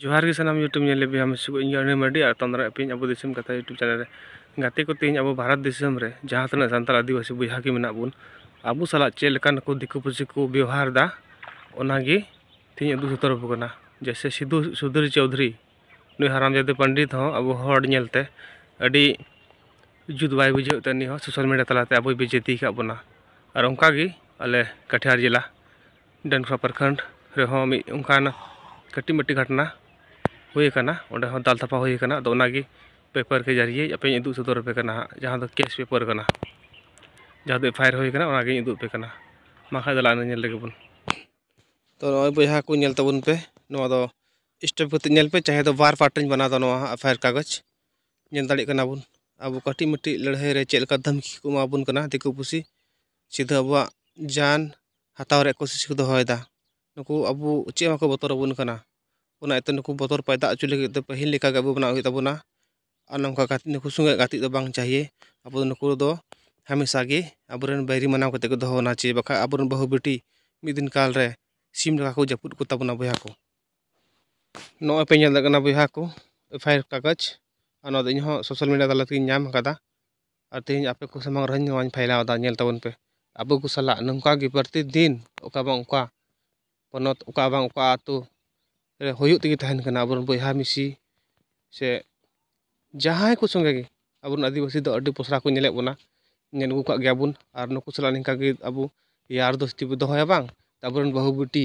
ᱡᱚᱦᱟᱨ ᱜᱮ ᱥᱟᱱᱟᱢ ᱤᱭᱩᱴᱩᱵᱽ ᱧᱮᱞ ᱞᱟᱹᱜᱤᱫ ᱦᱟᱢᱮᱥ ᱠᱚ ᱤᱧ ᱟᱹᱱᱤ ᱢᱟᱹᱨᱰᱤ ᱟᱨ ᱛᱟᱢᱫᱟᱨᱟ ᱟᱹᱯᱤᱧ ᱟᱵᱚ ᱫᱤᱥᱚᱢ ᱠᱟᱛᱷᱟ ᱤᱭᱩᱴᱩᱵᱽ ᱪᱮᱱᱮᱞ ᱨᱮ ᱜᱟᱛᱮ ᱠᱚ ᱛᱮᱦᱮᱧ ᱟᱵᱚ ᱵᱷᱟᱨᱚᱛ ᱫᱤᱥᱚᱢ ᱨᱮ ᱡᱟᱦᱟᱸ ᱛᱤᱱᱟᱹᱜ ᱥᱟᱱᱛᱟᱲ ᱟᱹᱫᱤᱵᱟᱹᱥᱤ ᱵᱚᱭᱦᱟ ᱜᱮ ᱢᱮᱱᱟᱜ ᱵᱚᱱ ᱟᱵᱚ ᱥᱟᱞᱟᱜ ᱪᱮᱫ ᱞᱮᱠᱟᱱ ᱠᱚ ᱫᱤᱠᱩ ᱯᱩᱥᱤ ᱠᱚ ᱵᱮᱣᱦᱟᱨ ᱮᱫᱟ ᱚᱱᱟᱜᱮ ᱛᱮᱦᱮᱧ ᱩᱫᱩᱜ ᱥᱚᱫᱚᱨ ᱟᱵᱚ ᱠᱟᱱᱟ ᱡᱮᱭᱥᱮ ᱥᱤᱫᱩ ᱥᱩᱫᱷᱤᱨ ᱪᱳᱣᱫᱷᱩᱨᱤ ᱱᱩᱭ ᱦᱟᱨᱟᱢ ᱡᱟᱫᱮ ᱯᱚᱱᱰᱤᱛ ᱦᱚᱸ ᱟᱵᱚ ᱦᱚᱲ ᱧᱮᱞᱛᱮ ᱟᱹᱰᱤ ᱡᱩᱛ ᱵᱟᱭ ᱵᱩᱡᱷᱟᱹᱣ ᱛᱮ ᱩᱱᱤ ᱦᱚᱸ ᱥᱳᱥᱟᱞ ᱢᱤᱰᱤᱭᱟ ᱛᱟᱞᱟᱛᱮ ᱟᱵᱚᱭ ᱵᱮᱡᱟᱹᱛᱤ ᱟᱠᱟᱫ ᱵᱚᱱᱟ ᱟᱨ ᱚᱱᱠᱟᱜᱮ ᱟᱞᱮ ᱠᱟᱴᱷᱤᱭᱟᱨ ᱡᱮᱞᱟ ᱰᱮᱢᱨᱟ ᱯᱨᱚᱠᱷᱚᱸᱰ ᱨᱮᱦᱚᱸ ᱢᱤᱫ ᱚᱱᱠᱟᱱ ᱠᱟᱹᱴᱤᱡ ᱢᱟᱹᱴᱤᱡ ᱜᱷᱚᱴᱚᱱᱟ ᱦᱩᱭ ᱠᱟᱱᱟ ᱚᱸᱰᱮ ᱦᱚᱸ ᱫᱟᱞ ᱛᱟᱯᱟ ᱦᱩᱭ ᱠᱟᱱᱟ ᱟᱫᱚ ᱚᱱᱟ ᱜᱮ ᱯᱮᱯᱟᱨ ᱠᱮ ᱡᱟᱹᱨᱤᱭᱮ ᱟᱯᱮᱧ ᱩᱫᱩᱜ ᱥᱚᱫᱚᱨ ᱟᱯᱮ ᱠᱟᱱᱟ ᱦᱟᱸᱜ ᱡᱟᱦᱟᱸ ᱫᱚ ᱠᱮᱹᱥ ᱯᱮᱯᱟᱨ ᱠᱟᱱᱟ ᱡᱟᱦᱟᱸ ᱫᱚ ᱮᱯᱷᱟᱭᱟᱨ ᱦᱩᱭ ᱠᱟᱱᱟ ᱚᱱᱟ ᱜᱮᱧ ᱩᱫᱩᱜ ᱟᱯᱮ ᱠᱟᱱᱟ ᱢᱟ ᱠᱷᱟᱡ ᱫᱮᱞᱟ ᱚᱱᱟ ᱧᱮᱞ ᱞᱮᱜᱮ ᱵᱚᱱ ᱛᱚ ᱱᱚᱜᱼᱚᱸᱭ ᱵᱚᱭᱦᱟ ᱠᱚ ᱧᱮᱞ ᱛᱟᱵᱚᱱ ᱯᱮ ᱱᱚᱣᱟ ᱫᱚ ᱥᱴᱚᱯ ᱠᱟᱛᱮ ᱧᱮᱞ ᱯᱮ ᱪᱟᱦᱮ ᱫᱚ ᱵᱟᱨ ᱯᱟᱨᱴ ᱨᱤᱧ ᱵᱮᱱᱟᱣ ᱫᱟ ᱱᱚᱣᱟ ᱦᱟᱸᱜ ᱮᱯᱷᱟᱭᱟᱨ ᱠᱟᱜᱚᱡᱽ ᱧᱮᱞ ᱫᱟᱲᱮᱭᱟᱜ ᱠᱟᱱᱟ ᱵᱚᱱ ᱟᱵᱚ ᱠᱟᱹᱴᱤᱡ ᱢᱟᱹᱴᱤᱡ ᱞᱟᱹᱲᱦᱟᱹᱭ ᱨᱮ ᱪᱮᱫ ᱞᱮᱠᱟ ᱫᱷᱟᱢᱠᱤ ᱠᱚ ᱮᱢᱟ ᱵᱚᱱ ᱠᱟᱱᱟ ᱫᱤᱠᱩ ᱯᱩᱥᱤ ᱥᱤᱫᱷᱟᱹ ᱟᱵᱚᱣᱟᱜ ᱡᱟᱱ ᱦᱟᱛᱟᱣ ᱨᱮᱭᱟᱜ ᱠᱳᱥᱤᱥ ᱠᱚ ᱫᱚᱦᱚᱭᱮᱫᱟ ᱱᱩᱠᱩ ᱟᱵᱚ ᱪᱮᱫ ᱦᱚᱸ ᱵᱟᱠᱚ ᱵᱚᱛᱚᱨ ᱟᱵᱚᱱ ᱠᱟᱱᱟ ᱚᱱᱟ ᱤᱭᱟᱹᱛᱮ ᱱᱩᱠᱩ ᱵᱚᱛᱚᱨ ᱯᱚᱭᱫᱟ ᱦᱚᱪᱚ ᱞᱟᱹᱜᱤᱫ ᱛᱮ ᱯᱟᱹᱦᱤᱞ ᱞᱮᱠᱟᱜᱮ ᱟᱵᱚ ᱵᱮᱱᱟᱜ ᱦᱩᱭᱩᱜ ᱛᱟᱵᱚᱱᱟ ᱟᱨ ᱱᱚᱝᱠᱟ ᱠᱟᱛᱮᱫ ᱱᱩᱠᱩ ᱥᱚᱸᱜᱮ ᱜᱟᱛᱮᱜ ᱫᱚ ᱵᱟᱝ ᱪᱟᱹᱦᱤᱭᱮ ᱟᱵᱚ ᱫᱚ ᱱᱩᱠᱩ ᱫᱚ ᱦᱟᱢᱮᱥᱟ ᱜᱮ ᱟᱵᱚ ᱨᱮᱱ ᱵᱟᱹᱭᱨᱤ ᱢᱟᱱᱟᱣ ᱠᱟᱛᱮᱫ ᱠᱚ ᱫᱚᱦᱚ ᱵᱚᱱᱟ ᱥᱮ ᱵᱟᱠᱷᱟᱡ ᱟᱵᱚ ᱨᱮᱱ ᱵᱟᱹᱦᱩ ᱵᱤᱴᱤ ᱢᱤᱫ ᱫᱤᱱ ᱠᱟᱞ ᱨᱮ ᱥᱤᱢ ᱞᱮᱠᱟ ᱠᱚ ᱡᱟᱹᱯᱩᱫ ᱠᱚᱛᱟ ᱵᱚᱱᱟ ᱵᱚᱭᱦᱟ ᱠᱚ ᱱᱚᱜᱼᱚᱸᱭ ᱯᱮ ᱧᱮᱞ ᱫᱟᱲᱮᱭᱟᱜ ᱠᱟᱱᱟ ᱵᱚᱭᱦᱟ ᱠᱚ ᱮᱯᱷ ᱟᱭ ᱟᱨ ᱠᱟᱜᱚᱡᱽ ᱟᱨ ᱱᱚᱣᱟ ᱫᱚ ᱤᱧ ᱦᱚᱸ ᱥᱳᱥᱟᱞ ᱢᱤᱰᱤᱭᱟ ᱛᱟᱞᱟ ᱛᱮᱜᱮᱧ ᱧᱟᱢ ᱠᱟᱫᱟ ᱟᱨ ᱛᱮᱦᱮᱧ ᱟᱯᱮ ᱠᱚ ᱥᱟᱢᱟᱝ ᱨᱮᱦᱚᱸ ᱱᱚᱣᱟᱧ ᱯᱷᱟᱭᱞᱟᱣ ᱮᱫᱟ ᱧᱮᱞ ᱛᱟᱵᱚᱱ ᱯᱮ ᱟᱵᱚ ᱠᱚ ᱥᱟᱞᱟᱜ ᱱᱚᱝᱠᱟ ᱜᱮ ᱯᱨᱚᱛᱮᱠ ᱫᱤᱱ ᱚᱠᱟ ᱵᱟᱝ ᱚᱠᱟ ᱯᱚᱱᱚᱛ ᱚᱠᱟ ᱵᱟᱝ ᱚᱠᱟ ᱟᱹᱛᱩ ᱨᱮ ᱦᱩᱭᱩᱜ ᱛᱮᱜᱮ ᱛᱟᱦᱮᱱ ᱠᱟᱱᱟ ᱟᱵᱚ ᱨᱮᱱ ᱵᱚᱭᱦᱟ ᱢᱤᱥᱤ ᱥᱮ ᱡᱟᱦᱟᱸᱭ ᱠᱚ ᱥᱚᱸᱜᱮ ᱜᱮ ᱟᱵᱚ ᱨᱮᱱ ᱟᱹᱫᱤᱵᱟᱹᱥᱤ ᱫᱚ ᱟᱹᱰᱤ ᱯᱚᱥᱲᱟ ᱠᱚ ᱧᱮᱞᱮᱫ ᱵᱚᱱᱟ ᱧᱮᱞ ᱟᱹᱜᱩ ᱠᱟᱜ ᱜᱮᱭᱟ ᱵᱚᱱ ᱟᱨ ᱱᱩᱠᱩ ᱥᱟᱞᱟᱜ ᱱᱤᱝᱠᱟ ᱜᱮ ᱟᱵᱚ ᱭᱟᱨ ᱫᱳᱥᱛᱤ ᱵᱚᱱ ᱫᱚᱦᱚᱭᱟ ᱵᱟᱝ ᱟᱵᱚ ᱨᱮᱱ ᱵᱟᱹᱦᱩ ᱵᱤᱴᱤ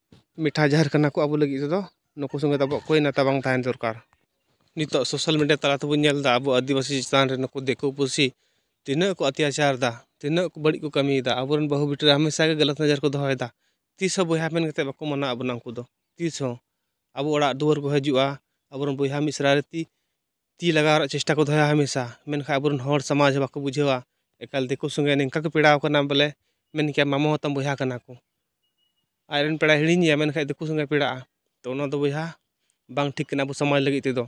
ᱢᱤᱴᱷᱟ ᱡᱟᱦᱮᱨ ᱠᱟᱱᱟ ᱠᱚ ᱟᱵᱚ ᱞᱟᱹᱜᱤᱫ ᱛᱮᱫᱚ ᱱᱩᱠᱩ ᱥᱚᱸᱜᱮ ᱫᱚ ᱟᱵᱚᱣᱟᱜ ᱠᱳᱭ ᱱᱟᱛᱟ ᱵᱟᱝ ᱛᱟᱦᱮᱱ ᱫᱚᱨᱠᱟᱨ ᱱᱤᱛᱚᱜ ᱥᱳᱥᱟᱞ ᱢᱤᱰᱤᱭᱟ ᱛᱟᱞᱟ ᱛᱮᱵᱚᱱ ᱧᱮᱞᱫᱟ ᱟᱵᱚ ᱟᱹᱫᱤᱵᱟᱹᱥᱤ ᱪᱮᱛᱟᱱ ᱨᱮ ᱱᱩᱠᱩ ᱫᱤᱠᱩ ᱯᱩᱥᱤ ᱛᱤᱱᱟᱹᱜ ᱠᱚ ᱚᱛᱛᱟᱪᱟᱨᱫᱟ ᱛᱤᱱᱟᱹᱜ ᱵᱟᱹᱲᱤᱡ ᱠᱚ ᱠᱟᱹᱢᱤᱭᱮᱫᱟ ᱟᱵᱚ ᱨᱮᱱ ᱵᱟᱹᱦᱩ ᱵᱤᱴᱤ ᱨᱮ ᱦᱟᱢᱮᱥᱟ ᱜᱮ ᱜᱟᱞᱟᱛ ᱱᱚᱡᱚᱨ ᱠᱚ ᱫᱚᱦᱚᱭᱮᱫᱟ ᱛᱤᱥ ᱦᱚᱸ ᱵᱚᱭᱦᱟ ᱢᱮᱱ ᱠᱟᱛᱮᱫ ᱵᱟᱠᱚ ᱢᱟᱱᱟᱣᱮᱫ ᱵᱚᱱᱟ ᱩᱱᱠᱩ ᱫᱚ ᱛᱤᱥ ᱦᱚᱸ ᱟᱵᱚ ᱚᱲᱟᱜ ᱫᱩᱣᱟᱹᱨ ᱠᱚ ᱦᱤᱡᱩᱜᱼᱟ ᱟᱵᱚ ᱨᱮᱱ ᱵᱚᱭᱦᱟ ᱢᱤᱥᱨᱟ ᱨᱮ ᱛᱤ ᱛᱤ ᱞᱟᱜᱟᱣ ᱨᱮᱭᱟᱜ ᱪᱮᱥᱴᱟ ᱠᱚ ᱫᱚᱦᱚᱭᱟ ᱦᱟᱢᱮᱥᱟ ᱢᱮᱱᱠᱷᱟᱱ ᱟᱵᱚ ᱨᱮᱱ ᱦᱚᱲ ᱥᱚᱢᱟᱡᱽ ᱵᱟᱠᱚ ᱵᱩᱡᱷᱟᱹᱣᱟ ᱮᱠᱟᱞ ᱫᱤᱠᱩ ᱥᱚᱸᱜᱮ ᱱᱤᱝᱠᱟ ᱠᱚ ᱯᱮᱲᱟᱣ ᱠᱟᱱᱟ ᱵᱚᱞᱮ ᱢᱮᱱ ᱠᱮᱭᱟᱢ ᱢᱟᱢᱚ ᱦᱚᱸ ᱛᱟᱢ ᱵᱚᱭᱦᱟ ᱠᱟᱱᱟ ᱠᱚ ᱟᱡ ᱨᱮᱱ ᱯᱮᱲᱟᱭ ᱦᱤᱲᱤᱧᱮᱭᱟ ᱢᱮᱱᱠᱷᱟᱱ ᱫᱤᱠᱩ ᱥᱚᱸᱜᱮ ᱯᱮᱲᱟᱜᱼᱟ ᱛᱳ ᱚᱱᱟ ᱫᱚ ᱵᱚᱭᱦᱟ ᱵᱟᱝ ᱴᱷᱤᱠ ᱠᱟᱱᱟ ᱟᱵᱚ ᱥᱚᱢᱟᱡᱽ ᱞᱟᱹᱜᱤᱫ ᱛᱮᱫᱚ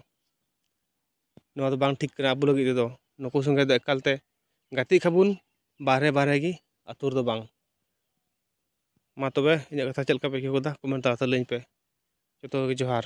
ᱱᱚᱣᱟ ᱫᱚ ᱵᱟᱝ ᱴᱷᱤᱠ ᱠᱟᱱᱟ ᱟᱵᱚ ᱞᱟᱹᱜᱤᱫ ᱛᱮᱫᱚ ᱱᱩᱠᱩ ᱥᱚᱸᱜᱮ ᱫᱚ ᱮᱠᱟᱞ ᱛᱮ ᱜᱟᱛᱮᱜ ᱠᱷᱟᱱ ᱵᱚᱱ ᱵᱟᱦᱨᱮ ᱵᱟᱦᱨᱮ ᱜᱮ ᱟᱹᱛᱩ ᱨᱮᱫᱚ ᱵᱟᱝ ᱢᱟ ᱛᱚᱵᱮ ᱤᱧᱟᱹᱜ ᱠᱟᱛᱷᱟ ᱪᱮᱫ ᱞᱮᱠᱟ ᱯᱮ ᱟᱹᱭᱠᱟᱹᱣ ᱠᱮᱫᱟ ᱠᱚᱢᱮᱱᱴ ᱛᱟᱞᱟᱛᱮ ᱞᱟᱹᱭᱟᱹᱧ ᱯᱮ ᱡᱚᱛᱚ ᱠᱚᱜᱮ ᱡᱚᱦᱟᱨ